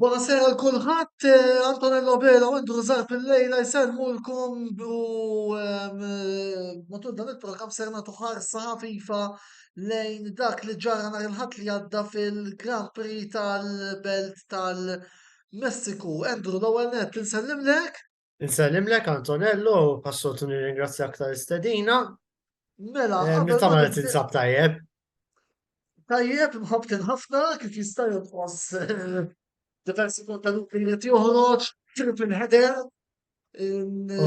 Buonasera għal kulħadd, eh, Antonello Vela u Indru Zarf il-lejla jsermulkom u ehm, eh, matul dan il-programm ser nagħtu ħarsa ħafifa lejn dak li ġara nhar il-ħadd li għadda fil-Grand Prix tal-Belt tal-Messiku. Endru l-ewwel nett insellem lek. Nsellimlek Antonello, passoltu nirringrazzjak ta' istedina. Mela, eh, meta ma tinsab tajjeb. Tajjeb, mħabtin ħafna, kif jista' jonqos eh, diversi kontenuti li qed joħroġ, trip il-ħeder.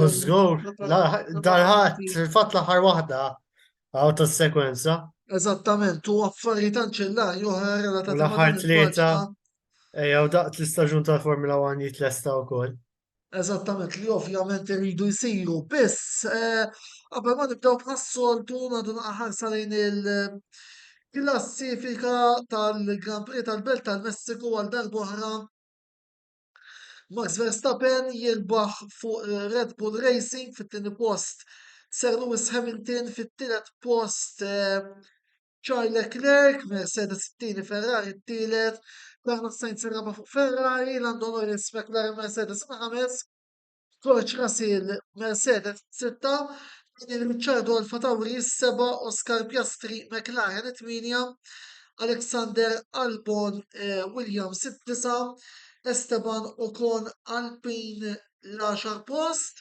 Użgur, darħat, fil-fatt l-aħħar waħda, għaw ta' sekwenza. Eżattament, u affarijiet anċellari oħra relatati. L-aħħar tlieta, ejja, u daqt l-istaġun tal-Formula 1 jitlesta wkoll. Eżattament li ovvjament iridu jsiru biss qabel ma nibdew bħas-soltu nagħdu ħarsa lejn il-klassifika tal-Grand Prix tal-Belt tal-Messiku għal darb'oħra Max Verstappen jirbaħ fuq Red Bull Racing fit-tieni post Sir Lewis Hamilton fit-tielet post Charles Leclerc, Mercedes it-tieni, Ferrari t-tielet, Carlos Sainz ir-raba' fuq Ferrari, Lando Norris, McLaren, Mercedes il-ħames, George Russell, Mercedes sitta, Daniel Ricciardo Alfa Tauri is-seba', Oscar Piastri, McLaren it-tmienja, Alexander Albon, eh, Williams it-tisa', Esteban Ocon, Alpine l-għaxar post.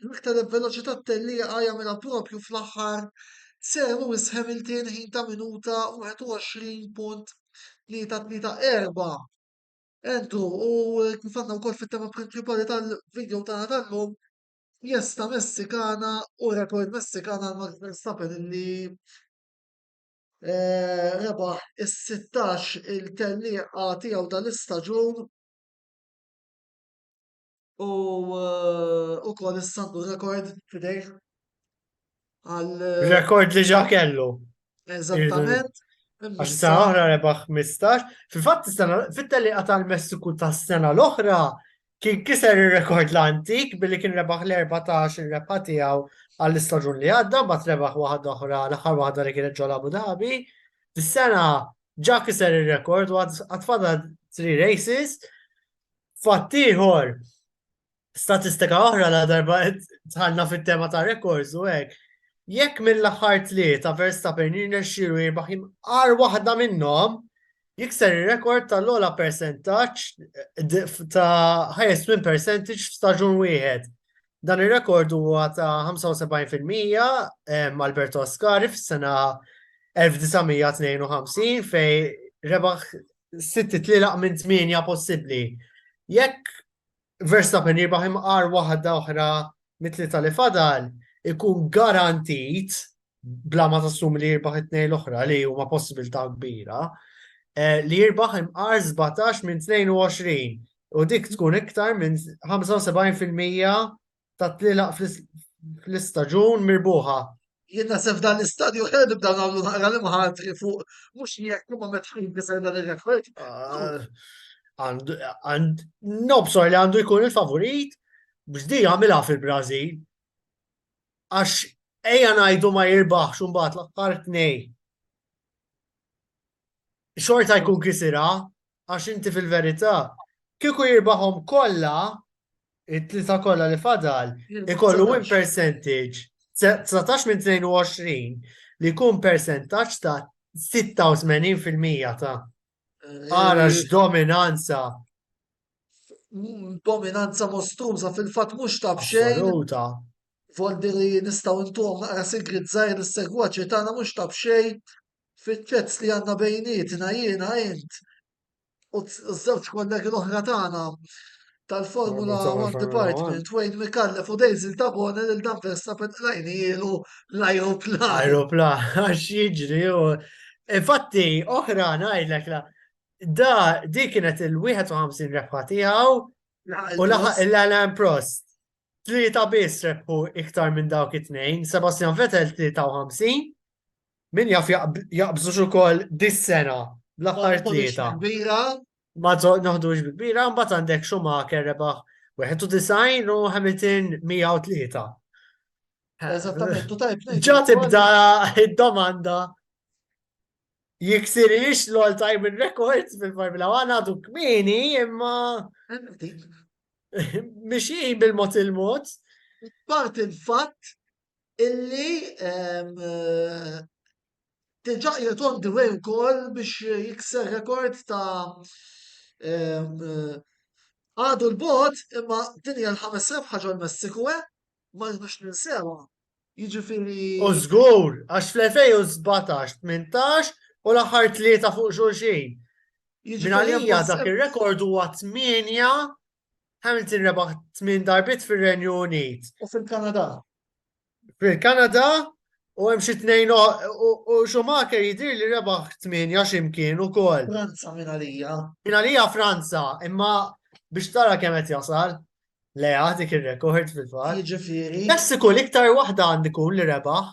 L-aktar veloċità t-tellieqa jagħmilha proprju fl-aħħar Sir Lewis Hamilton ħin ta' minuta 21.334. Andrew, u kif għandna wkoll fit-tema prinċipali tal-video tagħna tal-lum, jesta Messikana u rekord Messikana għal Max Verstappen li eh, rebaħ is-16 il-tellieqa tiegħu tal-istaġun u ukoll is-sandu rekord fidejh għal. Rekord li ġa kellu. Eżattament. Għax sa oħra rebaħ 15. Fil-fatt fit-teli għatal messiku ta' sena l-oħra kien kiser il-rekord l-antik billi kien rebaħ l-14 il-rebħa tiegħu għall-istaġun li għadda, bat rebaħ waħda oħra l-aħħar waħda li kienet ġol Abu Dhabi. Dis-sena ġa kiser il-rekord u għatfada 3 races Fatt ieħor, statistika oħra la darba tħallna fit-tema ta' rekords u hekk, jekk mill-aħħar tlieta Verstappen jirnexxielu jirbaħ imqar waħda minnhom, jikser ir-rekord tal-ogħla persentaġġ eh, ta' highest win percentage f'staġun wieħed. Dan ir-rekord huwa ta' 75% eh, Alberto Ascari fis-sena 1952 fej rebaħ City tlilaq minn tmienja possibbli. Jekk Verstappen jirbaħ imqar waħda oħra mitli tal fadal, ikun garantit bla ma tassum li jirbaħ it-tnejn l-oħra li huma possibilità kbira eh, li jirbaħ imqar 17 minn 22 u dik tkun iktar minn 75% ta' tlilaq fl-istaġun mirbuħa. Jien naħseb f'dan l-istadju ħna nibdew nagħmlu naqra l-imħatri fuq mhux jekk imma meta jinkiser dan ir-rekord. Nobsor li għandu jkun il-favorit biex di għamilha fil-Brażil. Għax ejja ngħidu ma jirbaħx imbagħad l-aħħar tnej. xorta jkun kisira għax inti fil-verità kieku jirbaħhom kollha it-tlieta kollha li fadal ikollu win percentage 19 minn 22 li jkun percentaġġ ta' 86% ta' ara eh, x'dominanza dominanza mostruża fil-fatt mhux ta' xejn. Voldi li nistgħu ntuhom naqra sigrit żgħir is-segwaċi tagħna mhux ta' xejn Fiċ-chats li għandna bejnietna jiena int u ż-żewġ kollegi l-oħra tagħna tal-Formula One Department, Wayne Mikallef u Daisy Tabone lil dan Verstappen qlajni ilu l-ajruplan. Ajruplan, għax jiġri u. Infatti, oħra ngħidlek la. Da, di kienet il-51 rebħa tiegħu u laħaq il-Alan Prost. Tlieta biss rebħu iktar minn dawk it-tnejn, Sebastian Vettel 53 Min jaf jaqbżux ukoll dis-sena bl-aħħar tlieta. Ma noħdux bi kbira, mbagħad għandek Schumacher rebaħ 91 u Hamilton 103. Eżattament, u tajb. Ġa tibda id-domanda jiksirix l-all time records fil-Formula 1 għadu kmini imma mixi bil-mot il-mot. Part il-fatt illi diġà qiegħed on the way wkoll biex jikser rekord ta' għadu l-bot imma din hija l-ħames rebħa ġol-Messiku eh? Ma nix ninsewha. Jiġifieri. U żgur, għax fl-2017, 18 u l-aħħar tlieta fuq xulxin. Jiġifieri Minalija dak ir-rekord huwa 8 Hamilton rebaħ tmien darbiet fir-Renju Unit. U fil-Kanada. Fil-Kanada u hemm xi tnejn u Schumacher jidir li rebaħ tmienja x'imkien ukoll. Franza minn għalija. Minn għalija Franza, imma biex tara kemm qed jasal. Le dik ir-rekord fil-fatt. Jiġifieri. Messiku l-iktar waħda għandi kun li rebaħ.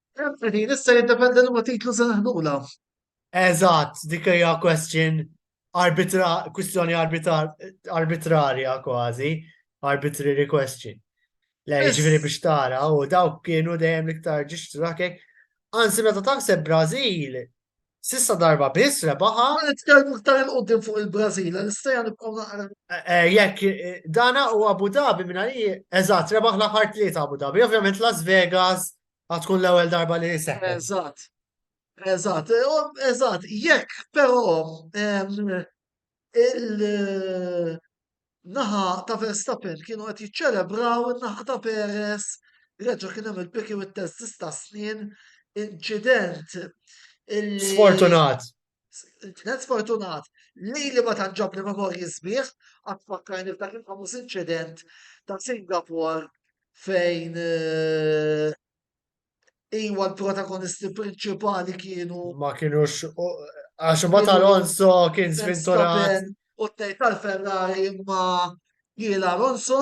Din issa jiddependi li ma titlu se naħdula. Eżatt, dik hija question arbitra, kwistjoni arbitrarja kważi, arbitrary question. Le, ġifieri biex tara u dawk kienu dejjem l-iktar ġiġtu dakek. Anzi, meta taħseb Brażil, Sissa darba biss rebaħa. Ma nitkellmu ktar il-qoddim fuq il-Brażil, l-istajan nibqgħu naqra. Eh, eh, jekk eh, dana u Abu Dhabi minn għalli, eżatt, rebaħ l-aħħar tlieta Abu Dhabi, ovvjament Las Vegas Għad tkun l-ewwel darba li jiseħ. Eżatt. Eżatt, eżatt, jekk però il-naħa ta' Verstappen kienu qed jiċċelebraw in-naħa ta' Perez reġa' kien hemm il-piki u t-test ta' snin inċident. Sfortunat. Kienet sfortunat li li ma tanġab li memorji sbieħ għad fakkarni f'dak il-famuż inċident ta' Singapore fejn eh, iwa l-protagonisti prinċipali kienu. Ma kienux, għax ma tal-Alonso kien svinturat. U t-tej tal-Ferrari ma jiela Alonso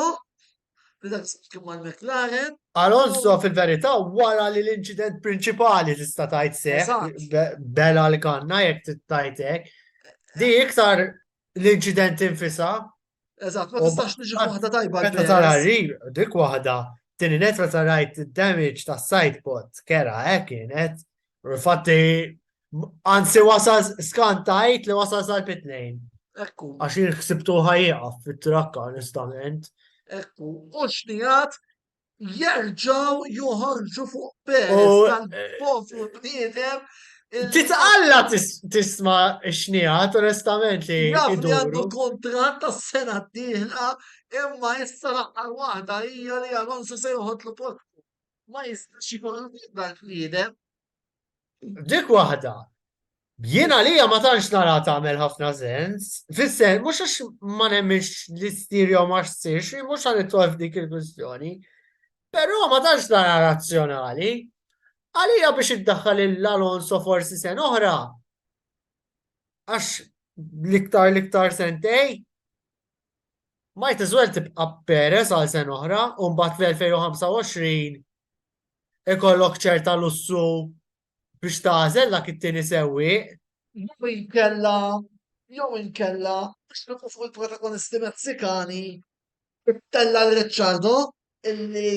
Alonso fil-verità wara li l-inċident prinċipali tista' tgħid seħ bela l-kanna jekk tittajt hekk. Di iktar l-inċident infisa. Eżatt, ma tistax tiġi waħda tajba. Meta tara ril, dik waħda, tieni net meta rajt damage ta' side pot, kera hekk kienet, Infatti, anzi wasal skantajt li wasal sal pitnejn. Ekku. Għax jien ħsibtu ħajjaqaf fit-trakka onestament. Ekku, u xnijat jerġaw joħorġu fuq Perez tal-poplu bniedem. Titqalla tisma xnijat onestament li. Jaf li għandu kontrat ta' sena d-dihla imma issa laqqa waħda hija li Alonso se joħodlu post. ma jistax ikun l-ebda l-bniedem. Dik waħda. Jien għalija ma tantx nara tagħmel ħafna sens. Fis-sen, mhux għax ma nemminx li ssir jew ma ssirx, mhux għal itolf dik il-kwistjoni. Però ma tantx nara razzjonali. Għalija biex iddaħħal l-Alonso forsi sen oħra. Għax l-iktar l-iktar sentej, Might as well tibqa' Perez għal sen oħra u mbagħad fl-2025 ikollok ċerta lussu biex tażel dak it-tieni sewwi. Jew inkella jew inkella biex nibqgħu fuq il-protagonisti Messikani tella Ricciardo illi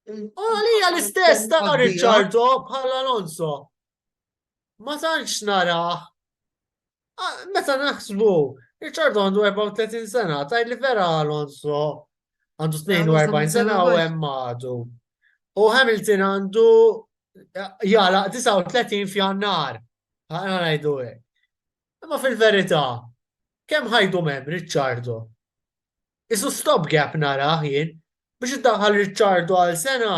Għalija l-istess ta' Ricciardo bħal Alonso. ma tantx narah. Meta naħsbu, Richard għandu 34 sena, tajt li vera Alonso għandu 42 sena u hemm għadu. U Hamilton għandu jala 39 f'jannar. Għana għajdu għek. Imma fil-verita, kem ħajdu mem, Ricciardo? Isu stop gap nara jien, biex id-daħal Ricciardo għal sena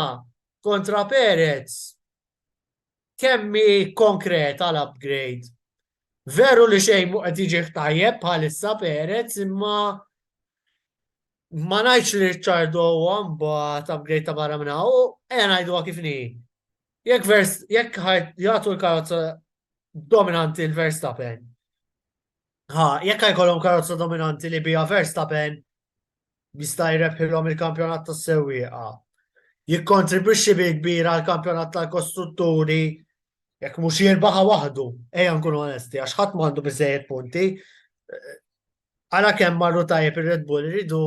kontra Perez. Kemm hi konkreta l-upgrade? Veru li xejn mhu qed jiġih tajjeb bħalissa Perez imma ma ngħidx li Ricciardo huwa mbagħad upgrade ta' barra minn hawn, ejja ngħiduha kif hi. Jekk vers jekk jagħtu l-karozza dominanti l-Verstappen. Ha, jekk jkollhom karozza dominanti li biha Verstappen jista' jrebħilhom il-kampjonat tas-sewwieqa. Jikkontribwixxi bil kbir għal kampjonat tal-kostrutturi jekk mhux jirbaħa waħdu, ejja nkunu onesti, għax ħadd m'għandu biżejjed punti. Għala kemm marru tajjeb ir-Red Bull iridu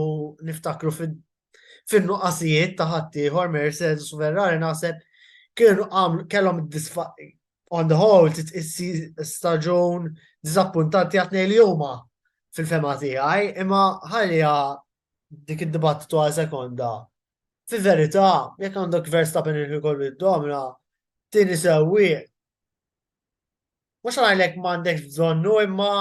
niftakru fin-nuqqasijiet ta' ħaddieħor Mercedes u Ferrari naħseb kienu kellhom on the whole titqissi staġun diżappuntanti għat li huma fil-fema tiegħi, imma ħalja dik id-dibattitu għal sekonda. Fi verità, jekk għandok Verstappen il kollu id-domna, tini sewi. Mux għalek mandek bżonnu imma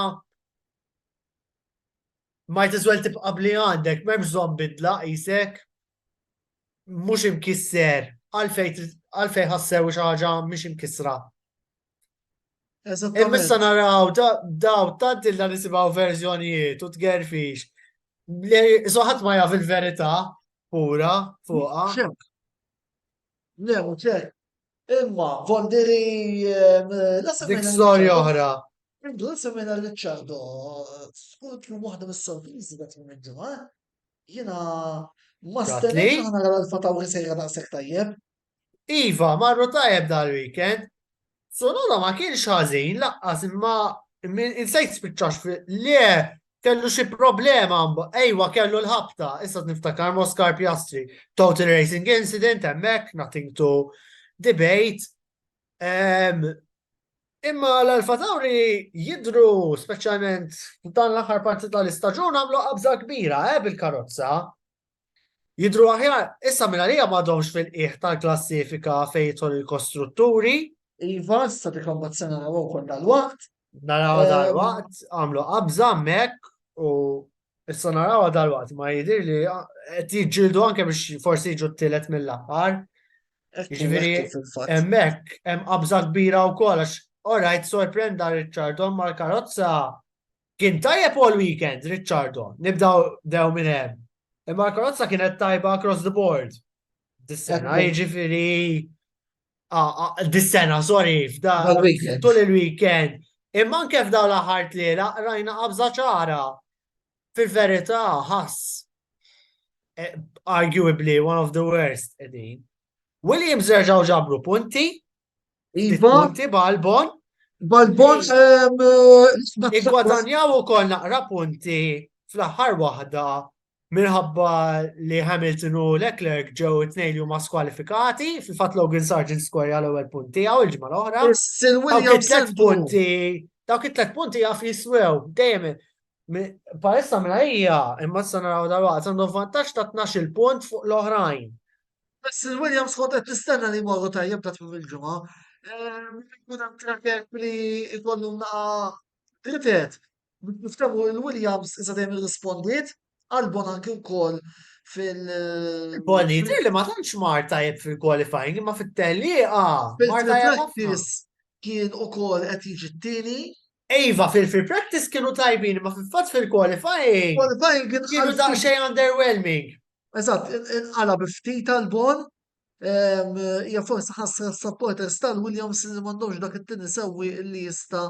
ma jtizwel tibqa li għandek, memx bżon bidla jisek, mhux imkisser, għalfejn ħassew xi ħaġa mhix imkissra. Imma issa naraw daw tant illa nisimgħu verżjonijiet u tgerfix. Soħat ma jaf il-verità pura fuqha. Le, u ċek. Imma, vondiri. Ehm, Dik storja oħra. Indu, semena Ricciardo, skut l waħda mis-sorprizi għat minn ġimgħa. Jina ma stennex ħana għal l-fatawri sejra daqsek tajjeb. Iva, marru tajjeb dal-weekend. Sonoda ma kienx ħażin laqqas imma insejt spiċċax le kellu xi problema ejwa kellu l-ħabta, issa niftakar Moskar Piastri, total racing incident hemmhekk, nothing to debate. Imma l-Alfa Tauri jidru speċjalment dan l-aħħar parti tal-istaġun għamlu qabża kbira eh, bil-karozza. Jidru aħjar, issa minna li għamadhomx fil-qiegħ tal-klassifika fejn jidħol il-kostrutturi. Iva, issa dik l-ombazzjoni għaw konna l-waqt. Naraw eh, dal-waqt, għamlu qabża mek u issa naraw dal-waqt ma jidir li ah, qed jiġġieldu anke biex forsi jiġu t-tielet mill-aħħar. Ġifieri hemmhekk hemm qabża kbira wkoll għax orajt sorprenda Richardon mal-karozza kien tajjeb all weekend Richardon. Nibdaw dew minn hemm. Imma l-karozza kienet tajba across the board. Dis-sena jiġifieri Dis-sena, sorry, f'da. Tul il-weekend. Imma anke f'daw l-aħħar tliela rajna qabża ċara. Fil-verità ħass. E, arguably one of the worst edin. Williams reġaw ġabru punti. Iva. Punti Balbon. Balbon Igwadanjaw u kol naqra punti fl-aħħar waħda Minħabba li Hamilton u Leclerc ġew it-tnejn li huma skwalifikati, fil-fatt Logan Sargent skorja l-ewwel punt tiegħu l-ġimgħa l-oħra. Dawk punti, dawk it-tlet punti jaf jiswew dejjem Parissa mela hija, imma s-sana raw dal-waqt, għandu vantaġġ ta' 12 punt fuq l-oħrajn. Bess il-Williams kont qed tistenna li morru tajjeb ta' tmim il-ġimgħa. Ehm, kun hemm traket li jkollu naqa' dritet, Biex niftehmu lil Williams iżda dejjem irrispondiet, għal Bon anki wkoll fil- Boni, jidhirli ma tantx mar tajjeb fil-qualifying imma fit-tellieqa mar tajjeb ħafna. Fil-practice kien ukoll qed jiġi t-tieni. Iva, fil-free practice kienu tajbin imma fil-fatt fil-qualifying Qualifying kien kienu inqalb ftit. daqsxejn underwhelming. Eżatt, in- inqala bi ftit għal Bon. Ehm, Hija forsi ħasra s-supporters tal-Williams li m'għandhomx dak it-tieni sewwieq li jista'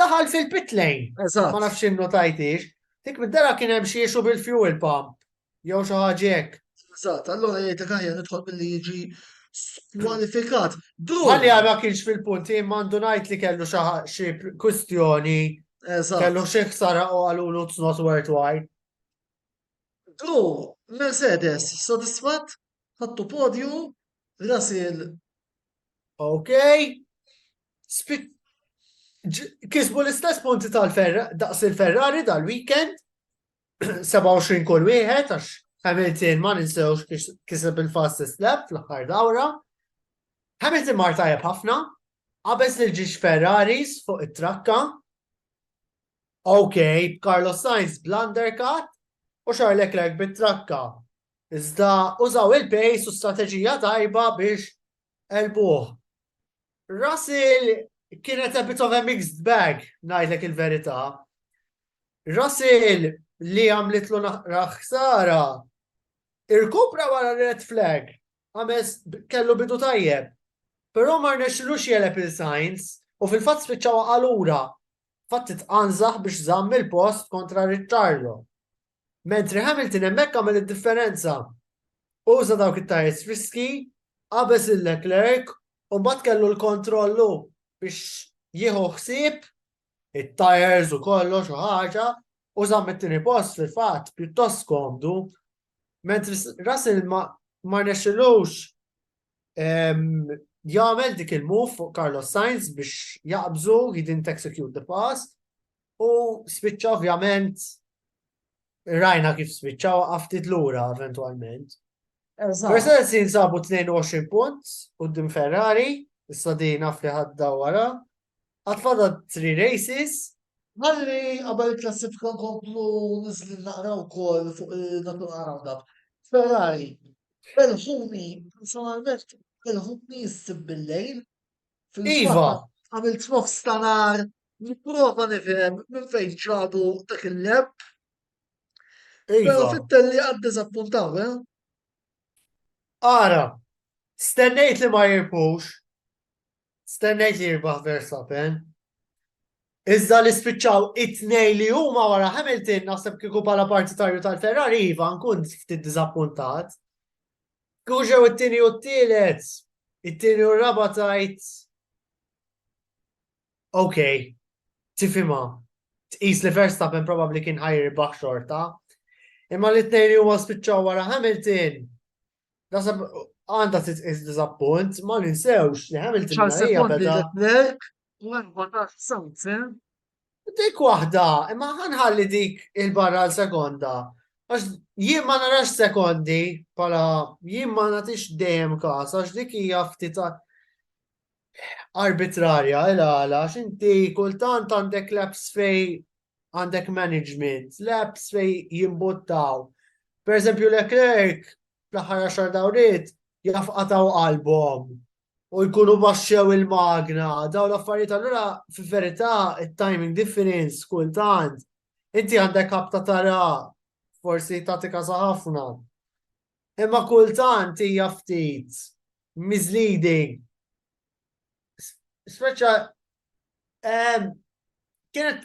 Daħal fil-pit lane. Eżatt. Ma nafx innu tajtix. Dik mid-dara kien hemm xi issue bil-fuel pump. Jew xi ħaġa hekk. Eżatt, allura jgħidlek aħjar nidħol billi jiġi skwalifikat. Dru. Għalli għal ma kienx fil-punt, jien mandu ngħid li kellu xi ħa- xi kwistjoni, Eżatt. kellu xi ħsara u għalulu it's not worthwhile. Dru, Mercedes, sodisfatt, ħattu podju, Russell Ok? Kisbu l-istess punti daqs il-Ferrari dal-weekend, 27 kull wieħed, għax Hamilton ma ninsewx kiseb il-fastest lap fl-aħħar dawra. Hamilton mar tajjeb ħafna, qabeż li ġiex Ferraris fuq it-trakka. Ok, Carlos Sainz bl-undercut u Charles Leclerc bit-trakka. Iżda użaw il-pace u strateġija tajba biex elbuh. Russell kienet a bit of a mixed bag, ngħidlek il-verità. Russell li għamlitlu naqra ħsara, irkupra wara red flag, għames kellu bidu tajjeb, però ma rnexxilux jeleb il-Sainz u fil-fatt spiċċaw għalura. Fatt titqanżaħ biex żamm il-post kontra Ricciardo. Mentri Hamilton hemmhekk għamel id-differenza. Uża dawk it-tyres friski, qabeż lil Leclerc u mbagħad kellu l-kontroll hu biex jieħu ħsieb it-tyres u kollox u ħaġa u żamm it-tieni post fil-fatt pjuttost komdu. Mentri Russell ma ma nexxilux jagħmel dik il-move fuq Carlos Sainz biex jaqbżu, he didn't execute the pass, U spiċċa ovvjament rajna kif spiċċa għaftit lura eventualment. Mercedes jinsabu 22 punt u dim Ferrari, issa di naf li ħadda wara. Għatfada 3 races. Għalli għabel klassifika komplu nizli naqraw kol fuq il-natur għarabdab. Ferrari, belħuni, personalment, belħuni jissib bil-lejl, Iva! Għamilt nofs ta' nar, nipprova nifhem minn fejn ġabu dak il-leb. Iva. Pero fit-telli għad dizappuntaw, eh? Ara, stennejt li ma jirbux, stennejt li jirbaħ Verstappen, Iżda li spiċċaw it-tnej li huma wara Hamilton naħseb kieku bħala partitarju tal-Ferrari iva nkun ftit diżappuntat. Skużaw it-tieni u t-tielet, it-tieni u r-raba tajt. Ok, tifima, tqis li Verstappen probabli kien ħajr baħ xorta. Imma li t-tnejn li huma spiċċaw wara Hamilton, nasab għanda titqis diżappunt, ma ninsewx li Hamilton. Ċar sekondi li t-tnejn, 14 sawt, Dik waħda, imma ħanħalli dik il-barra għal sekonda. Għax jien ma narax sekondi, pala jien ma natix dejjem kas, għax dik hija ftit arbitrarja, ila għala, għax inti kultant għandek laps fej għandek management, laps fej jimbuttaw. Per eżempju, Leclerc, fl-ħara xar dawrit, jafqataw qalbhom u jkunu baxxew il-magna, daw l-affarijiet allura fil-verità it-timing difference kultant inti għandek ħabta tara forsi tagħti kasa ħafna. Imma kultant hija ftit misleading. Speċa ehm, kienet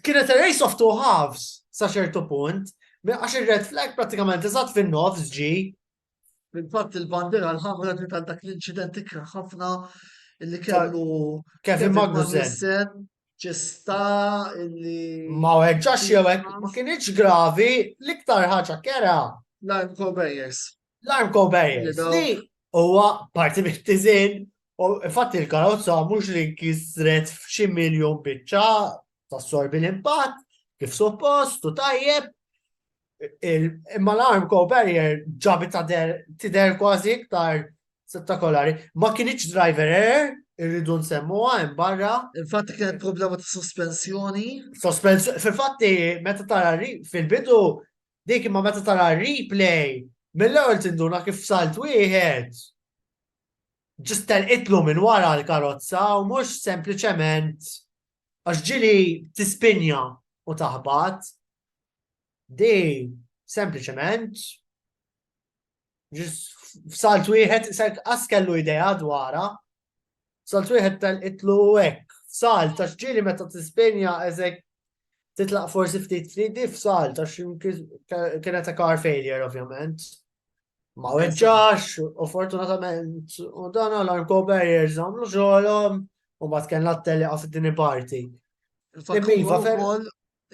kienet a race of two halves sa ċertu punt, għax ir-red flag pratikament eżatt fin-nofs ġi Fil-fatt il-bandiera l-ħamra ġiet għal dak l-inċident ikra ħafna li kellu Kevin Magnussen. Ċista illi. Ma weġġax jew hekk ma kienx gravi l-iktar ħaġa kera. L-arm Cobayers. L-arm Cobayers. Li huwa parti mit-tiżin u infatti l-karozza mhux li kisret f'xi miljon biċċa tassorbi l-impatt kif suppost u tajjeb Imma l-arm co barrier ġabit tider kważi iktar spettakolari. Ma kienieċ driver error, irridu nsemmuha hemm barra. Infatti kienet problema ta' sospensjoni. Sospensjoni, fil-fatti meta tara fil-bidu dik imma meta tara replay mill-ewwel tinduna kif salt wieħed ġist itlu minn wara l-karozza u mhux sempliċement għax ġili tispinja u taħbat Di sempliċement f'salt wieħed ser qas kellu idea dwarha. Salt wieħed tal-itlu hekk. F'salt ta' ġieli meta tispenja eżek titlaq forsi ftit ftit di f'salt għax kienet ta' car failure ovvjament. Ma weġġax u fortunatament u dan għal kober jirżamlu xogħolhom u bat kellna t-tele għaf din parti. Iva,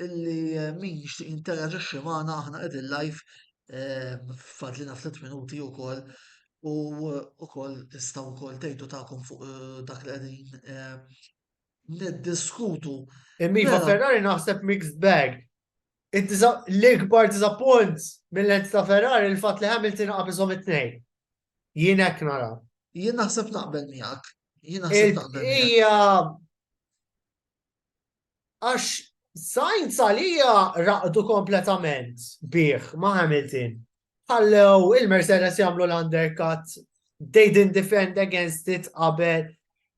illi eh, min jixtieq interaġixxi magħna aħna qegħdin live eh, fadlina ftit minuti wkoll u wkoll eh, istaw wkoll tgħidu tagħkom fuq dak li qegħdin niddiskutu. Immiva mela- Ferrari naħseb mixed bag. L-ikbar disappunt mill-lent ta' Ferrari il-fatt li Hamilton qabiżhom it-tnejn. Jien hekk nara. Jien naħseb naqbel miegħek. Jien naħseb naqbel. Hija Għax Sainz għalija raqdu kompletament bih ma' Hamilton. Ħallew il-Mercedes jagħmlu l-undercut, they didn't defend against it qabel,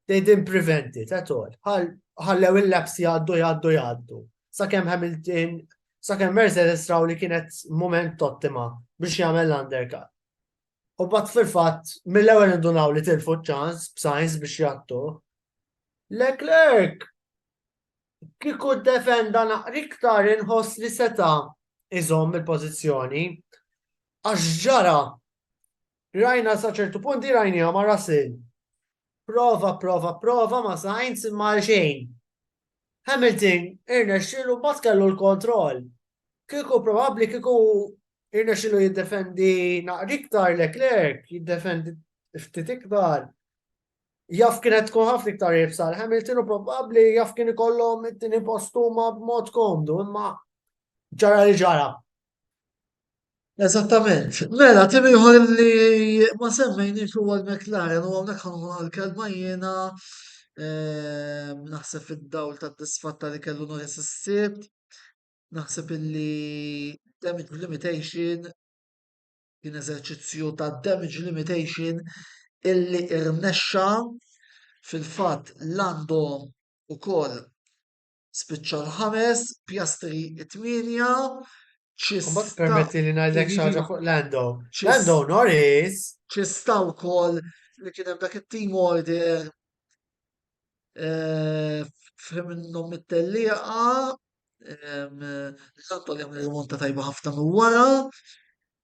they didn't prevent it at all. Ħallew il-laps jgħaddu jgħaddu jgħaddu. Sakemm Hamilton, sakemm Mercedes raw li kienet moment ottima biex jagħmel l-undercut. U bat fil-fatt, mill-ewwel indunaw li tilfu ċans b'sajns biex jattu. Leclerc kiku defenda naqriktar inħoss li seta iżomm il-pożizzjoni. Għax ġara rajna sa ċertu punti rajnija ma' Russell. Prova, prova, prova ma' Sainz ma' xejn. Hamilton irnexxilu bat kellu l-kontroll. Kiku probabbli kiku Irnexxilu jiddefendi naqri iktar Leclerc, jiddefendi ftit iktar. Jaf kienet tkun ħafna iktar jibsal Hamilton u probabbli jaf kien ikollhom it-tieni postuma b'mod komdu, imma ġara li ġara. Eżattament. Mela, tim ieħor li ma semmejniex huwa l-McLaren u hawnhekk ħanħu għal-kelma jiena ehm, naħseb fid-dawl tad-disfatta li kellu nhar is-sibt Naħseb illi damage limitation kien eżerċizzju ta' damage limitation illi irnexxa fil-fatt Lando ukoll spiċċa l-ħames, Piastri t-tmienja. Imbagħad permetti li ngħidlek xi ħaġa fuq Lando. Lando Norris. Ċista wkoll li kien hemm dak it-team order eh, f'ħim minnhom mit-tellieqa L-Antol jagħmel rimonta tajba ħafna minn wara.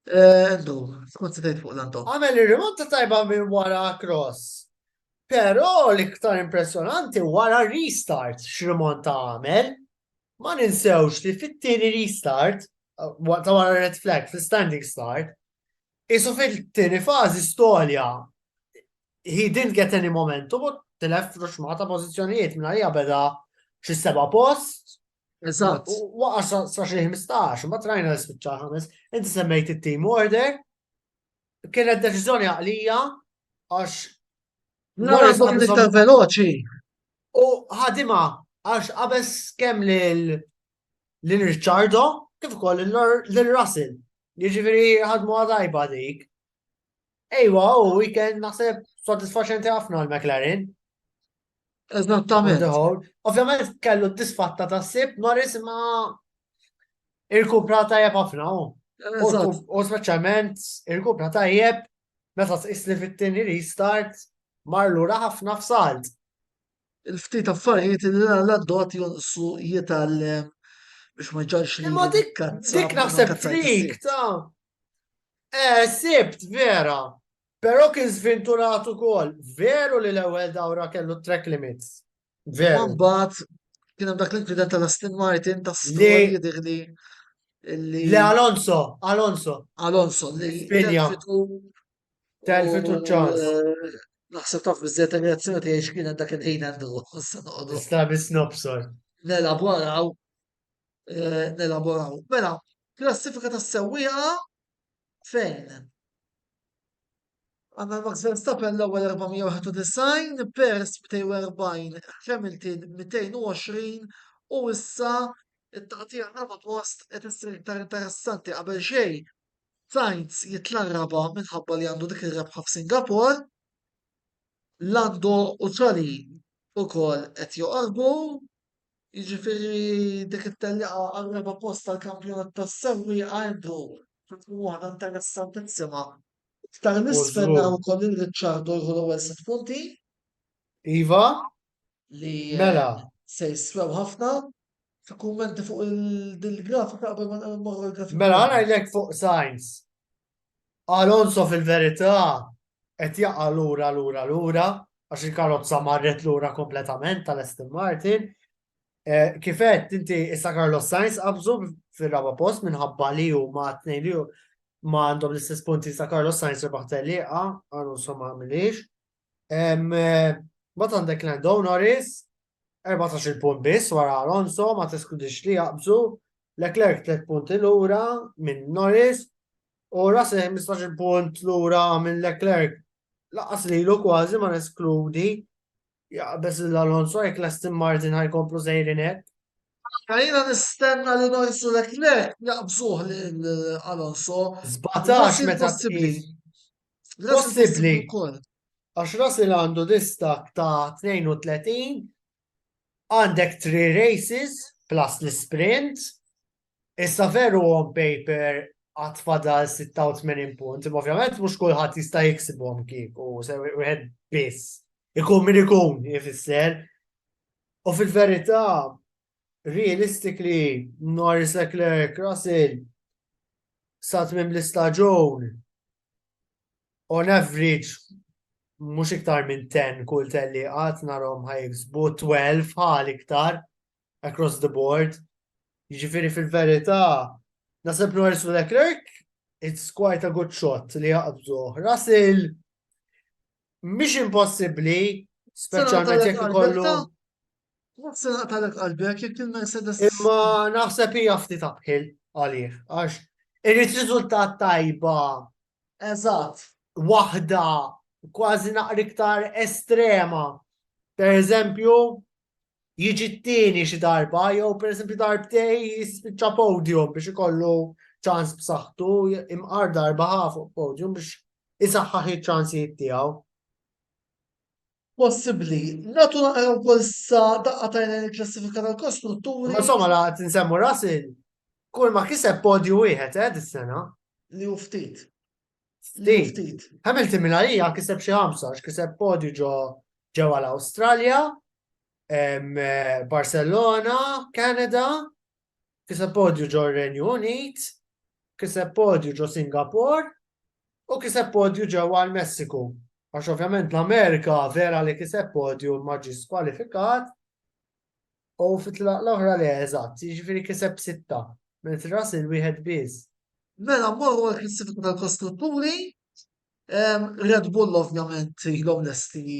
Endu, skont se fuq l-Antol. Għamel ir-rimonta tajba minn wara cross. Però l-iktar impressjonanti wara restart x'rimonta għamel. Ma ninsewx li fit-tieni restart ta' wara red flag fl-standing start, Isu fil-tieni fażi Stolja he didn't get any momentum u tilef f'ruxma ta' pożizzjonijiet minn għalija beda xi seba' post. Eżatt. Waqa' sa xi 15, ma trajna l-spiċċa ħames. Inti semmejt it-team order. Kienet deċiżjoni għaqlija għax. Morris ta' veloċi. U ħadima għax qabes kemm lil lil Ricciardo kif ukoll lil Russell. Jiġifieri ħadmu għadajba dik. Ejwa, u weekend naħseb sodisfaċenti ħafna l-McLaren. Eżattament. Ovvjament kellu disfatta ta' sib Norris ma irkupra tajjeb ħafna u. U speċjalment irkupra tajjeb meta tqis li fit-tieni restart mar lura ħafna f'salt. il-ftit affarijiet li l-għaddot jonqsu jitgħallem biex ma ġarx li. Ma dik dik naħseb trik ta' eh sibt vera. Però kien żvinturat ukoll. Veru li l-ewwel dawra kellu track limits. Veru. Mbagħad kien hemm dak l-inċident tal-Aston Martin ta' Stroll jidhirli. Le Alonso, Alonso. Alonso li Telfet u ċans. Eh, naħseb taf bizzet reazzjoni tiegħi x'kien hemm dak il-ħin għandu issa noqogħdu. Sta biss nobsor. Nelaboraw. Eh, nelaboraw. Mela, klassifika tas-sewwieqa fejn? Għanna Max Verstappen l-ewwel 491, Perez 240, Hamilton 220 u issa it-taqtija raba post qed issir iktar interessanti qabel xejn Sainz jitla' raba' minħabba li għandu dik ir-rebħa f'Singapore. Lando u Ċali ukoll qed joqorbu. Jiġifieri dik it-tellieqa għar-raba' post tal-kampjonat tas-sewwieqa Andrew se tkun waħda interessantissima. Iktar 'l isfel naraw ukoll lil Ricciardo jieħu l-ewwel sitt punti. Iva, li Mela. se jiswew ħafna fi kummenti fuq il-grafika qabel ma nqogħdu l-grafika. Mela għana jlek fuq Sainz. Alonso fil-verità qed jaqa' lura lura lura għax il-karozza marret lura kompletament tal-Aston Martin. Eh, Kifet inti issa Carlos Sainz qabżu fir-raba post minħabba li hu ma' tnejn li hu ma għandhom l-istess punti sa' Carlos Sainz rebaħ telliqa, Alonso ma għamilix. Bat għandek Lando Norris, 14 punt biss wara Alonso, ma teskludix li jaqbżu, Leclerc 3 punti l-ura minn Norris, u Russell 15 punt l-ura minn Leclerc, laqas li l kważi ma neskludi, jaqbez l-Alonso, jek l-Aston Martin ħajkomplu sejrinek. Għalina nistenna li Norris u Leclerc jaqbżuħ l-Alonso. Zbatax meta possibli. Possibbli. Għax Russell għandu distak ta' 32, għandek 3 races plus l-sprint, issa veru on paper għat fadal 86 punt, imma ovvjament mux kullħat jista' jiksibhom kieku, se wieħed biss. Ikun min ikun jifisser. U fil-verità, realistically Norris Leclerc Russell sa tmiem l-istaġun on average mhux iktar minn 10 kull telli qatt narhom ħajksbu 12 ħal iktar across the board. Jiġifieri fil-verità naseb Norris u Leclerc it's quite a good shot li jaqbdu. Russell mhix impossibbli speċjalment jekk ikollu Nafsi naqtalek qalbek jekk il-Mercedes. Imma naħseb hija ftit abħil għalih, għax irrid riżultat tajba. Eżatt. Waħda kważi naqri iktar estrema. Per eżempju, jiġi t-tieni xi darba, jew per eżempju darbtej jispiċċa podium biex ikollu ċans b'saħħtu imqar darba ħafu podium biex isaħħaħ iċ-ċansijiet tiegħu. possibbli. Nagħtu naqra wkoll sa daqqa tajn lejn il-klassifika tal-kostrutturi. Insomma, la qed insemmu Russell, kull ma kiseb podju wieħed eh dis-sena. Li hu ftit. Ftit. Ftit. Hamilton mill-għalija kiseb xi ħamsa, kiseb podju ġo ġewwa l-Awstralja, Barcelona, Kanada, kiseb podju ġo Renju Unit, kiseb podju ġo Singapore u kiseb podju ġewwa l-Messiku. Għax ovvjament l-Amerika vera li kiseb podju ma ġi skwalifikat u fit-tlaq l-oħra li eżatt, jiġifieri kiseb sitta, minn tras il-wieħed biss. Mela mmorru għal klassifika tal-kostrutturi, Red Bull ovvjament ilhom lesti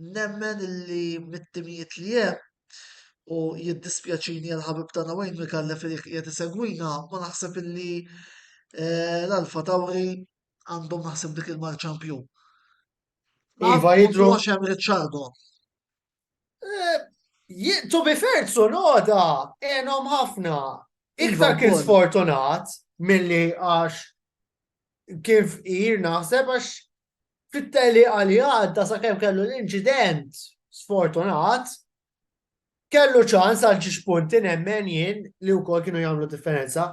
Nemmen illi mit-timijiet li hemm, u jiddispjaċini għal ħabib tagħna Wayne Micallef li qiegħed isegwina, ma naħseb illi eh, l-Alfa Tauri għandhom naħseb dik il-marċampju. Iva, jidru- Għax hemm Ricciardo. Eh, ji- To be fair, Tsunoda, enom ħafna. Iva, Iktar kien wkoll. sfortunat milli għax kien fqir naħseb għax fit-teliqa li għadda sakemm kellu l-inċident sfortunat, kellu ċans għal ġiex punti nemmen jien li wkoll kienu jagħmlu differenza.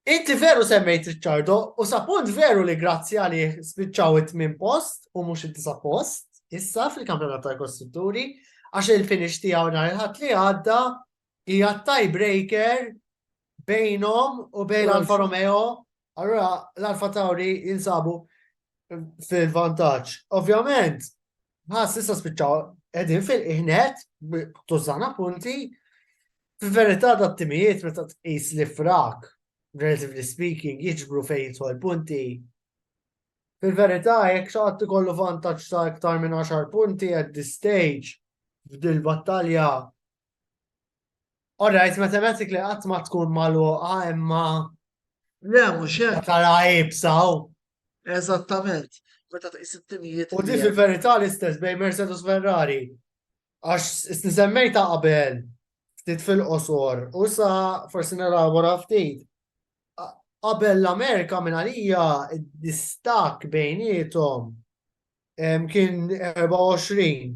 Inti veru semmejt Ricciardo u sa punt veru li grazzi għalih spiċċaw it-tmien post u mhux it-tisa post issa fil-kampjonat tal-kostrutturi għax il-finish tiegħu nhar il-ħadd li għadda Hija t-tiebreaker bejnhom u bejn l-Alfa Romeo. Allura l-Alfa Tauri jinsabu fil-vantaġġ. Ovvjament, ħas issa spiċċaw qegħdin fil-qihnet tużana punti. Fil-verità da timijiet meta tqis li frak, relatively speaking, jiġbru fejn jidħol punti. Fil-verità, jekk xaħat kollu vantaġġ ta' iktar minn 10 punti at this stage, f'dil battalja All right, mathematically qatt ma tkun magħluqa imma Le, mhux hekk. tara ibsaw. Eżattament. Meta tqis it-timijiet. U li di hemm. fil-verità l-istess bejn Mercedes u Ferrari. Għax s- nisemmejta qabel ftit fil-qosor u sa forsi nelabora ftit. A- Qabel l-Amerika minn għalija d-distak bejnietom em, kien 24.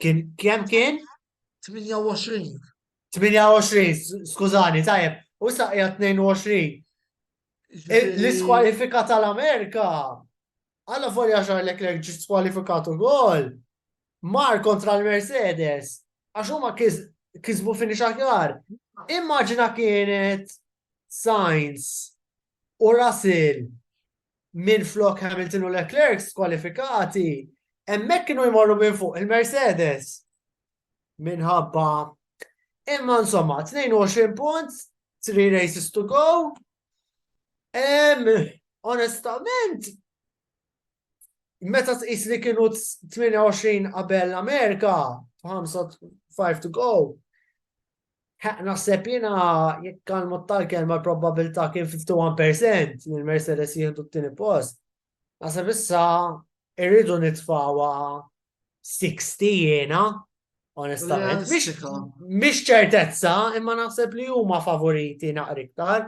Kien kemm kien? 28. 28, skużani, tajjeb, u saqja 22. L-iskwalifika tal-Amerika, għalla volja xar Leclerc ġi skwalifikatu gol, mar kontra l-Mercedes, għax huma kisbu fini xaħjar. Immaġina kienet Sainz u Russell minn flok Hamilton u Leclerc skwalifikati, hemmhekk kienu jmorru minn fuq il-Mercedes. Minħabba imma insomma 22 punt, 3 races to go. Em, onestament, meta tqis li kienu 28 qabel l-Amerika, 5 to go, Naħseb jina jekk għal mod tal-kelma l-probabilità kien 51% li l-Mercedes jieħdu t-tieni post. Naħseb issa irridu nitfawa 60 jiena, onestament. Mhix ċertezza, imma naħseb li huma favoriti naqriktar.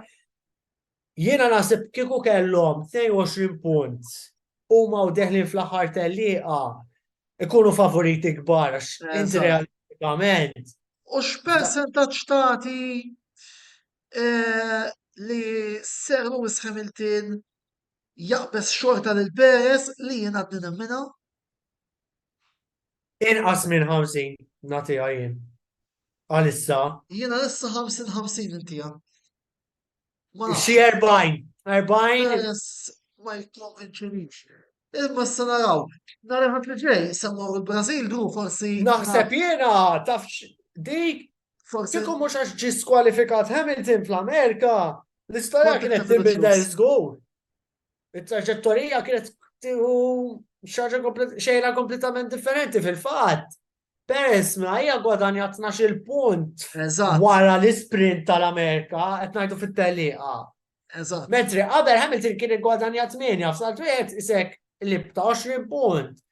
Jiena naħseb kieku kellhom 22 punt huma u deħlin fl-aħħar tellieqa ikunu favoriti kbar għax inti realistikament. U x'persentaġġ tagħti eh, li Sir Lewis Hamilton jaqbes xorta lil Perez li jien għadni nemmina? Inqas minn 50 nagħtiha jien. Għalissa. Jiena issa 50-50 intija. Xi 40, 40. Ma jikkonvinċinix. Imma s naraw, nar ħat li ġej, semmu il-Brazil du forsi. Naħseb jena, taf dik. Forsi. Kieku mux għax ġi skwalifikat Hamilton fl-Amerika, l-istoria kienet tibidel zgur. Il-traġettorija kienet tiħu xaġa xejra kompletament differenti fil-fat. Perez, ma hija gwadanja 12 punt. Eżatt. Wara l-isprint tal-Amerika, qed ngħidu fit-teliqa. Eżatt. Mentri qabel Hamilton kien gwadanja 8, f'salt wieħed isek li ta' 20 punt.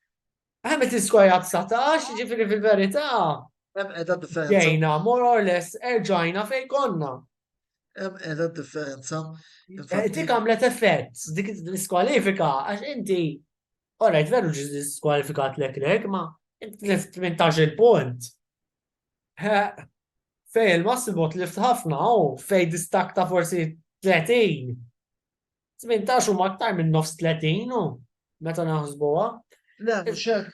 Hamilton skorja 19, ġifiri fil-verità. Hemm qiegħda differenza. Ġejna, more or less, erġajna fejn konna. Hemm qiegħda differenza. Eh, dik għamlet effett, dik l-iskwalifika, għax inti All right, veru ġi diskwalifikat Leclerc, ma tlift 18 punt. Fej il-massimo tlift ħafna, u fej distak ta' forsi 30. 18 u maktar minn nofs 30 u meta naħsbuha. Le, xek.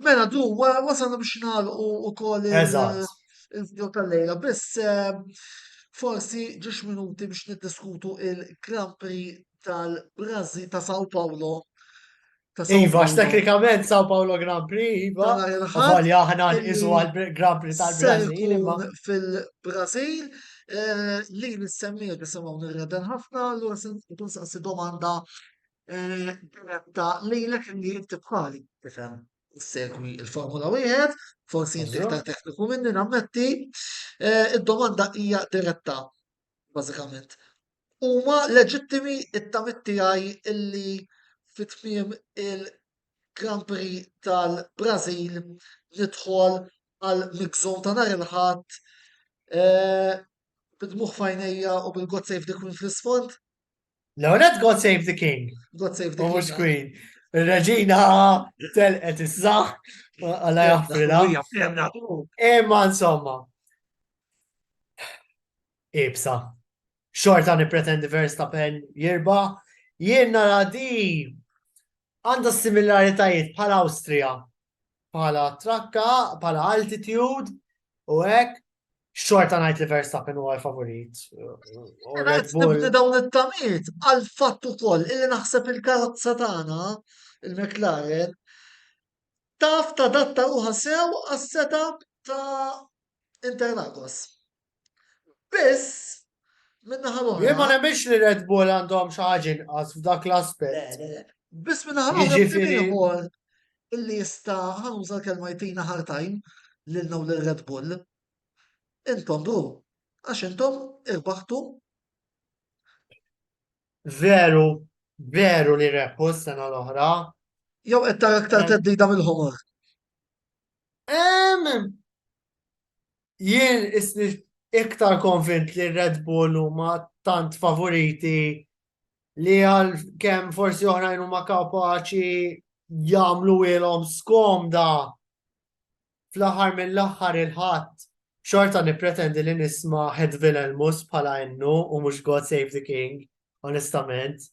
Mela du, wasalna biex nagħlqu ukoll il-video tal-lejla, biss eh, forsi ġiex minuti biex niddiskutu il-Grand Prix tal-Brażil ta' Sao Paulo. ta' Sao Iva, Paulo. teknikament Sao Paulo Grand Prix, Iva. Ta' nhar il-Ħadd Għalja aħna illi nqisu għal-Grand Prix ser tal-Brażil, imma. ikun fil-Brażil eh, li l-semmijiet bisimgħu nirreden ħafna, allura se nkun saqsi domanda eh, diretta lilek li inti bħali tifhem segwi il-Formula Wieħed, forsi inti Eżatt. iktar tekniku minni nammetti. Eh, Id-domanda hija diretta. bażikament. Huma leġittimi t-tamiet tiegħi illi fi tmiem il-Grand Prix tal-Brażil nidħol għal mix-zone ta' nhar il-Ħadd eh, bid-dmugħ f'għajnejja u bil-God Save the Queen fl-isfond. L-għonet God Save the King. God Save the King. Mux Queen. Il-reġina telqet issa, għalla jaffrila. Imma insomma. Ibsa. Xorta nipretendi Verstappen jirba. Jien nara di għanda similaritajiet bħal Austria. bħala trakka, bħala altitude, u hekk xorta najt li Verstappen huwa favorit. Nibni dawn it-tamiet għal fattu ukoll illi naħseb il-karozza tagħna il-McLaren taf ta' datta ruħa sew għas-setup ta' Interlagos. Biss, minnaħa l-oħra. Jien ma nemminx li Red Bull għandhom xi ħaġa inqas f'dak l-aspett. Biss minnaħa l-oħra Jiġifieri- ieħor illi jista' ħanuża l-kelma jtina hard time lil naw lil Red Bull. Intom bru, għax intom irbaħtu Veru, veru li rebħu s-sena l-oħra. jew qed tara aktar Em. teddida mill-ħomor. Em, jien isni iktar konvint li Red Bull huma tant favoriti li għal kem forsi oħrajn huma kapaċi jagħmlu ilhom skomda fl-aħħar mill-aħħar il-ħadd xorta nippretendi li nisma Head Vilelmus bħala innu u mhux God Save the King, onestament.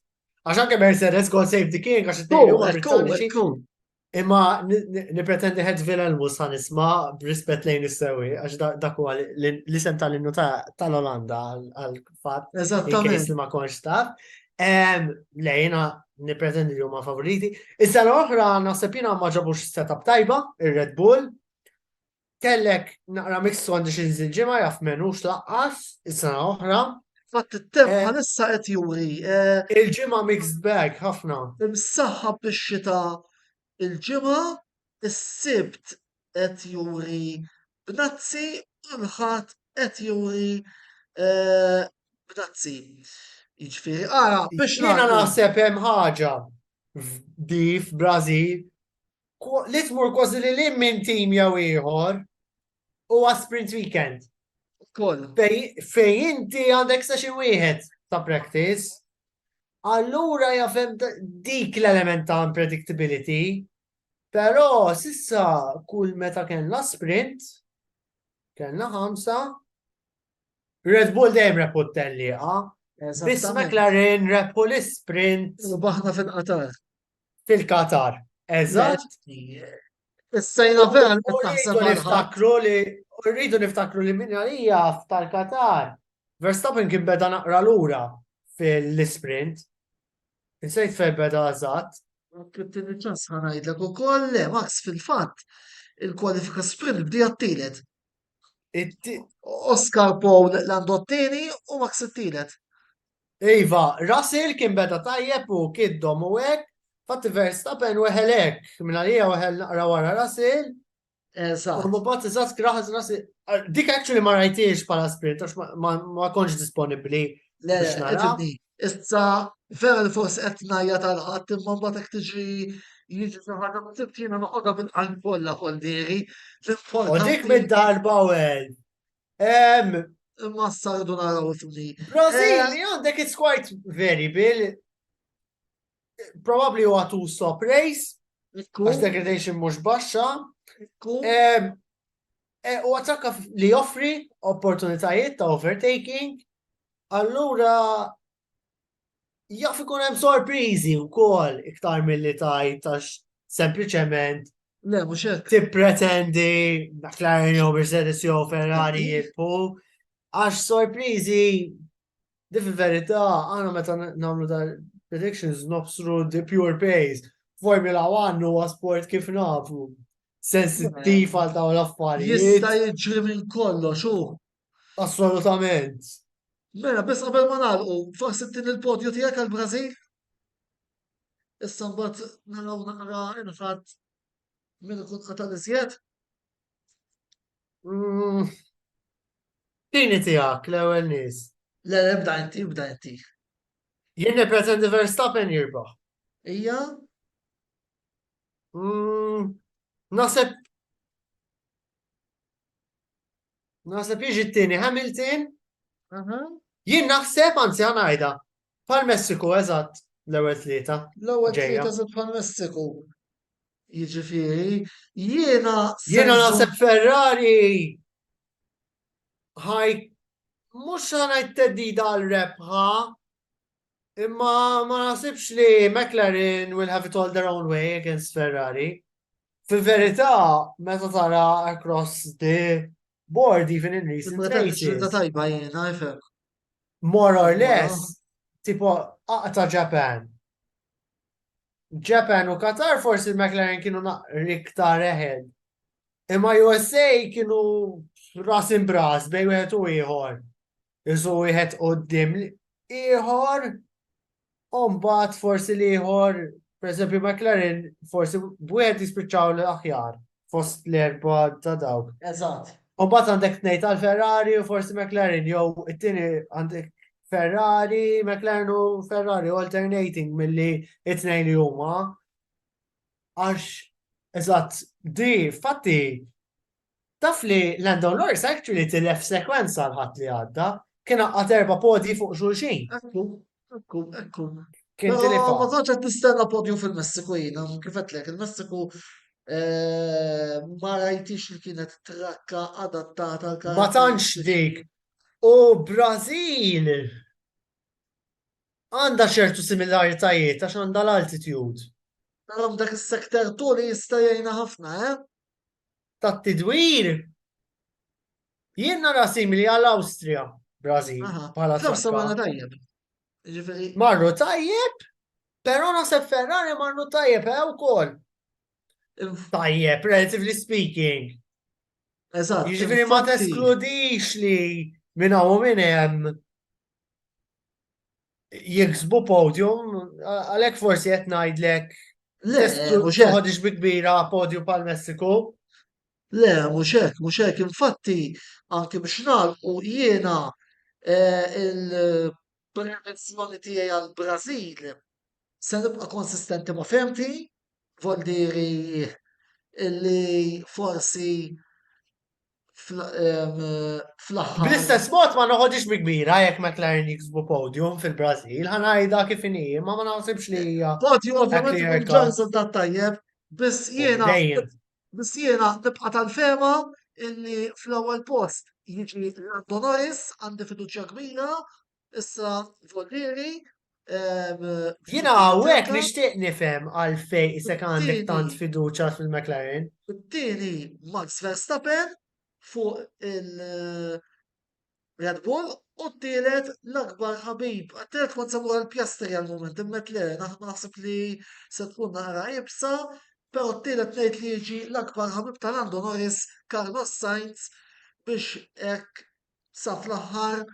Għax anke Mercedes God Save the King għax it-tejju Imma nipretendi ħed vila l-mus ħan isma b'rispet lejn is-sewi, għax dak huwa l-isem tal-innu tal-Olanda għal-fat. Eżattament. ma konx taf. Lejna nipretendi li huma favoriti. Is-sena oħra naħseb jiena ma ġabux setup tajba, ir-Red Bull. Kellek naqra mixtu għandi xi nżil ġimgħa jaf menux laqqas is-sena oħra. Fatt it-temp eh. bħalissa qed juri. Eh, il-ġimgħa mixed bag ħafna. Imsaħħab bix-xita il-ġimgħa is-sibt qed juri b'nazzi u l-ħadd qed juri eh, b'nazzi. Jiġifieri ara biex jiena naħseb hemm ħaġa f'dif Brażil Li tmur kważi li lim minn tim jew ieħor u sprint weekend. Koll. Fej inti għandek session wieħed ta' practice, allura jafem dik l-element ta' unpredictability, pero sissa kull meta kellna sprint, kellna ħamsa, Red Bull dejjem reput telliqa, biss McLaren repul sprint. U baħna fil-qatar. Fil-Qatar. Eżatt. Is-sejna vera li taħseb Rridu niftakru li rridu niftakru li minn għalija tal-Qatar. Verstappen kien beda naqra lura fil-sprint. Insejt fej beda eżatt. Tini ċans ħanajdlek u koll le, Max fil-fat, il-kwalifika sprint bdi għattilet. Oscar Paul l-għandu t-tini u Max t-tilet. Iva, Russell kien beda tajjeb u kiddom u hekk, fatti Verstappen weħel hekk, minn għalija weħel naqra wara Russell. U mbagħad iżatt kraħas Russell. Dik actually ma rajtiex bħala sprint għax ma konx disponibbli biex nara. Issa vera li forsi qed ngħajja tal-ħadd imma mbagħad hekk tiġi jiġi saħħa ma tibtina noqogħda bil-qalb kollha koldieri. Dik mid-darba u Em, Imma s-sardu naraw fni. Brazil, li għandek it's quite variable. Probably huwa two stop race, għax degradation mhux baxxa. Em, eh, U għatakka li joffri opportunitajiet ta' overtaking. Allura, jaf ikun hemm sorpriżi wkoll iktar milli tajt għax sempliċement Le, mhux hekk. tippretendi McLaren jew Mercedes jew Ferrari jilpu għax sorpriżi di fil-verità għana meta n- nagħmlu ta' predictions nobsru di pure pace. Formula 1 huwa sport kif nafu sensittiv għal dawn l-affarijiet. Jista' jiġri minn kollox u Assolutament. Mela, biss qabel ma nagħlqu, forsi din il-podju tiegħek għall-Brażil? Issa mbagħad naraw naqra inħadd minn ikun qata' l-iżjed. Mm. Tini tiegħek l-ewwel nies. Le, le, bda inti, bda inti. Jien nippretendi Verstappen jirbaħ. Ija? Mm, Naseb Naħseb jiġi t-tieni Hamilton. Jien naħseb anzi għanajda. Pal Messiku eżatt l-ewwel tlieta. L-ewwel tlieta se pal Messiku. Jiġifieri jiena Jiena naħseb Ferrari ħaj mhux ħanajt teddida għal rebħa Imma ma nasibx li McLaren will have it all their own way against Ferrari. Fil-verità, meta tara across the board, even in recent races. tajba jena, jifem. More or less, tipo, aqta Japan. Japan u Qatar forsi McLaren kienu iktar eħed. Imma USA kienu ras imbras bej wieħed u ieħor. Iżu wieħed qoddim ieħor u mbagħad forsi li ieħor, pereżempju McLaren, forsi b'wieħed jispiċċaw l-aħjar fost l-erba ta' dawk. Eżatt. U mbagħad għandek tnejn għal Ferrari u forsi McLaren jew it-tieni għandek Ferrari, McLaren u Ferrari alternating milli it-tnejn li huma. Għax eżatt di fatti Taf li Lando Norris actually tilef sekwenza l-ħadd li għadda, kien għaqqat erba' podji fuq xulxin. Ekku, ekku, ekku. Kien tilifha. Ma konċ qed nistenna podju fil-Messiku jiena, kif qedlek, il-Messiku eh, ma rajtix li kienet trakka adattata għal Ma tantx dik. U Brażil għandha ċertu similaritajiet għax għandha l-altitude. Narom dak is-sekter tuli jista' jgħinha ħafna, eh? tat-tidwir jien nara simili għall-Awstrija, Brażil, bħala tajjeb. Marru tajjeb, però naħseb Ferrari marru tajjeb eh, wkoll. Tajjeb, relatively speaking. Eżatt. Jiġifieri ma teskludix li minn hawn minn hemm jiksbu podium, għalek forsi qed ngħidlek toħodix bi kbira podium pal Messiku. Le, mhux hekk, mhux hekk, infatti anki biex nagħlqu jiena eh, il-prevenzjoni tiegħi għall-Brażil se nibqa' konsistenti ma' femti, vol diri li forsi fl-aħħar. Bl-istess mod ma noħodix bi kbira jekk McLaren jiksbu podium fil-Brażil, ħanajda kif inhi, ma ma naħsibx li hija. Podium ovvjament ikun ġanżel ta' tajjeb, biss jiena biss jiena nibqa' tal-fema illi fl-ewwel post jiġi Lando Norris għandi fiduċja kbira Issa, Vollieri, Jina għawek nishtiq nifem għalfej isek għandek tant fiduċa fil-McLaren. Tini Max Verstappen fuq il-Red eh, Bull u t-tielet l-akbar ħabib. Għattilet kont sabu għal-pjastri għal-moment, immet le, naħseb li se tkun naqra ibsa, pero t-tielet nejt li jiġi l-akbar ħabib tal-Lando Norris, Carlos Sainz, biex ek sa fl-aħħar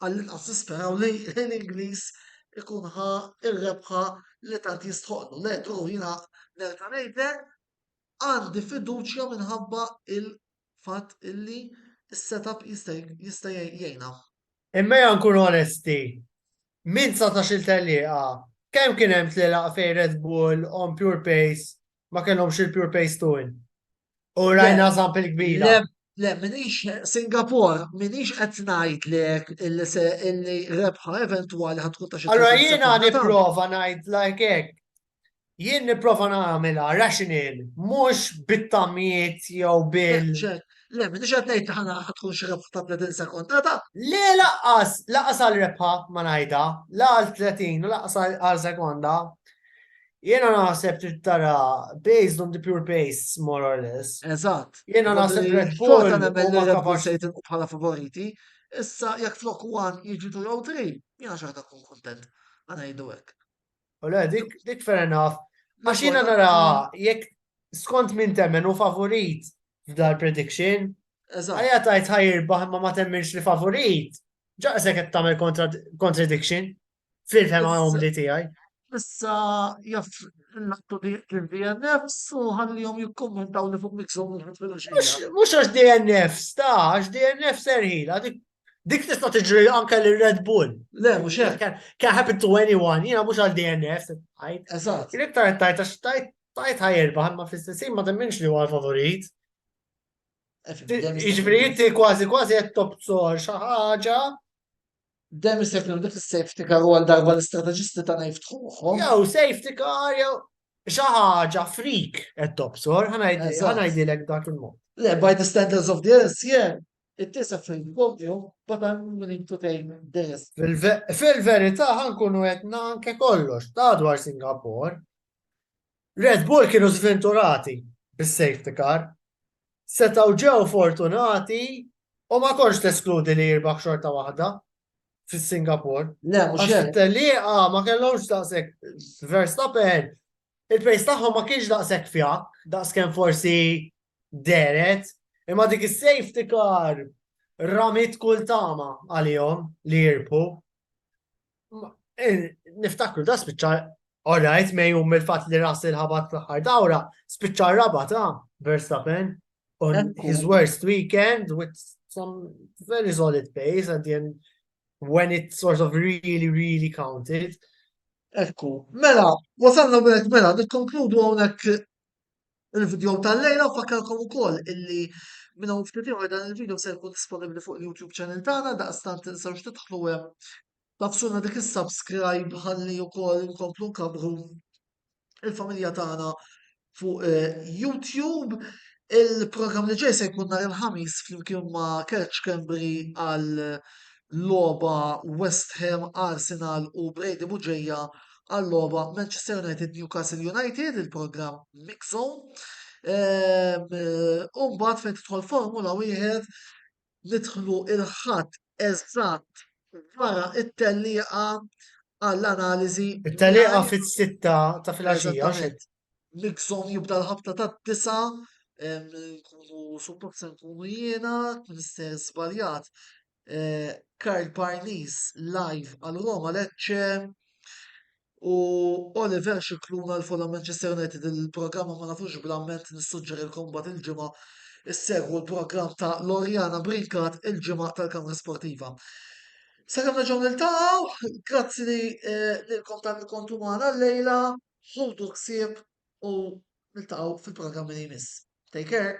għall-inqas nisperaw li l-ħin Ingliż ikun ħa r-rebħa li tant jistħoqqlu. Le, Drew, jiena nerġa' ngħidlek, għandi fiduċja minħabba il-fatt illi s-setup jista' jgħinna. Imma ejja nkunu onesti, minn 19-il tellieqa, kemm kien hemm tlielaq fejn Red Bull on pure pace ma kellhomx il-pure pace tool. U rajna sample kbira. Le, le, minix Singapore, minix qed ngħid lek illi rebħa eventwali ħad tkun ta' xi. Allora jiena nipprova ngħid like hekk. Jien nipprova nagħmilha rational, mhux bit-tamiet jew bil. Le, minn iġed nejt ħana ħatkun xirab ta' 30 sekonda ta' le laqqas, laqqas għal rebħa ma najda, la għal 30 u laqqas għal sekonda. Jena naħseb trid tara based on the pure pace, more or less. Eżatt. Jena naħseb Red Bull. Xorta nemmen li Red Bull se jitilqu bħala favoriti. Issa jekk flok one jiġu tu jew tri, jena xorta kun kontent. Għana jiddu hekk. U le, dik dik fair enough. Għax jena nara jekk skont minn temmen u favorit f'dar prediction. Eżatt. Għajja tajt ħajr baħ ma ma temminx li favorit. Ġaqsek qed tagħmel contradiction. Fil-fema umli tiegħi. Issa jaf l-attu DNFs u ħallihom jikkommentaw li fuq miksom Mux għax DNFs, ta' għax DNFs erħila, dik tista' tiġri anke li Red Bull. Le, mux hekk. Can happen to anyone, jiena mux għal DNFs. Eżatt. Jien iktar tajt għax tajt tajt ħajerba ħamma fl-istessin ma temminx li huwa favorit. Iġveri jitti kważi kważi qed tobzor xi ħaġa Dem jista' jkun dik is-safety car u għal darba l-istrateġisti ta' ngħid tħuħhom. Jew safety car jew xi ħaġa frik qed tobsor, ħanajdilek dak il-mod. Le, by the standards of the LCN, it is a free program, but I'm willing to take the risk. Fil-verità ħankunu qed nanke kollox, ta' dwar Singapore, Red Bull kienu żvinturati bis-safety car, setgħu ġew fortunati u ma kontx teskludi li jirbaħ xorta waħda fis-Singapore. Le, mhux Għax it-tellieqa ma kellhomx daqshekk Verstappen, il-pace tagħhom ma kienx daqshekk fjakk, daqskemm forsi deret, imma dik is-safety car ramit kull tama għalihom li jirpu. Eh, niftakru da spiċċa, all right, me jum il-fat li ras il-ħabat fl-ħar dawra, spiċċa raba ta' Verstappen on his worst weekend with some very solid pace at the end when it sort of really, really counted. Ekku, mela, wasalna mela, mela, nikkonkludu għonek Il-video tal-lejla fakkarkom ukoll illi minn hawn ftit ieħor dan il-video se jkun disponibbli fuq il-YouTube channel tagħna daqstant tinsewx tidħlu hemm. Tafsuna dik is-subscribe ħalli wkoll inkomplu nkabru il-familja tagħna fuq eh, YouTube. Il-programm li ġej se jkun nhar il-ħamis flimkien ma' Kerċ Cambry għal loba West Ham, Arsenal u Brady Muġeja għal-logħba Manchester United Newcastle United, il-programm Mix Zone. Ehm, u mbagħad fejn tidħol Formula wieħed nidħlu il-ħadd eżatt wara it-tellieqa għall-analiżi. It-tellieqa fit-sitta ta' filgħaxija. Mix Zone jibda l-ħabta tad-disa' ehm, nkunu suppost se nkunu jiena, Mr. Zbaljat, eh, Karl Parnis live għal Roma Lecce u Oliver Xikluna l-Fulham Manchester United il-programma ma nafux bl-amment nissuġġerilkom bat il-ġimgħa issegwu l-programm ta' Lorjana Brinkat il-ġimgħa tal-Kamra Sportiva. Sakemm neġgħu niltaqgħu, grazzi li eh, lilkom tal kontu magħna l-lejla, ħudu ksib u niltaqgħu fil-programmi li jmiss. Take care!